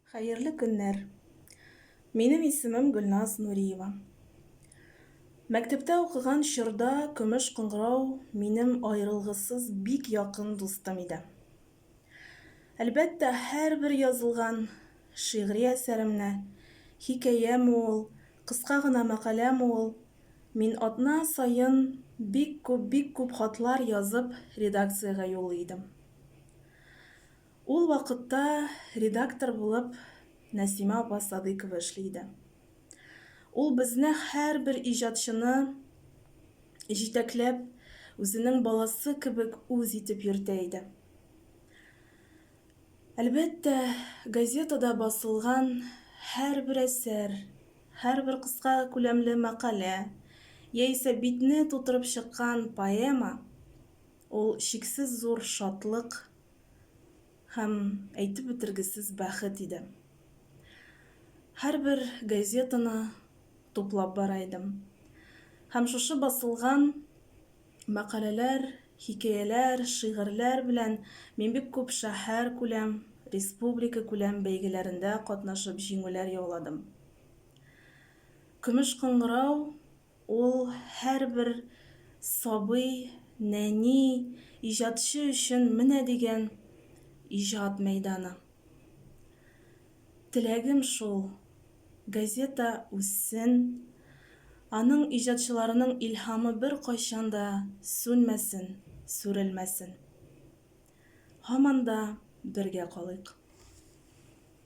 Хәерле көннәр! Минем исемем Гөлназ Нуриева. Мәктәптә укыган чорда көмеш кыңгырау минем аерылгысыз бик якын дустым иде. Әлбәттә, һәрбер язылган шигъри әсәремне, хикәяме ул, кыска гына мәкаләме ул, мин атна саен бик күп, бик күп хатлар язып редакциягә юллый идем. Ул вакытта редактор булып Нәсимә апа Садыйкова эшли иде. Ул безне, һәрбер иҗатчыны җитәкләп, үзенең баласы кебек үз итеп йөртә иде. Әлбәттә, газетада басылган һәрбер әсәр, һәрбер кыска күләмле мәкалә яисә битне тутырып чыккан поэма Ул чиксез зур шатлык һәм әйтеп бетергесез бәхет иде. Һәрбер газетаны туплап бара идем. Һәм шушы басылган мәкаләләр, хикәяләр, шигырьләр белән мин бик күп шәһәркүләм, республикакүләм бәйгеләрендә катнашып җиңүләр яуладым. Көмеш кыңгырау, Ул һәрбер сабый, нәни, иҗатчы өчен менә дигән иҗат мәйданы. Теләгем шул, газета үссен, аның иҗатчыларының илһамы беркайчан да сүнмәсен, сүрелмәсен. Һаман да бергә калыйк.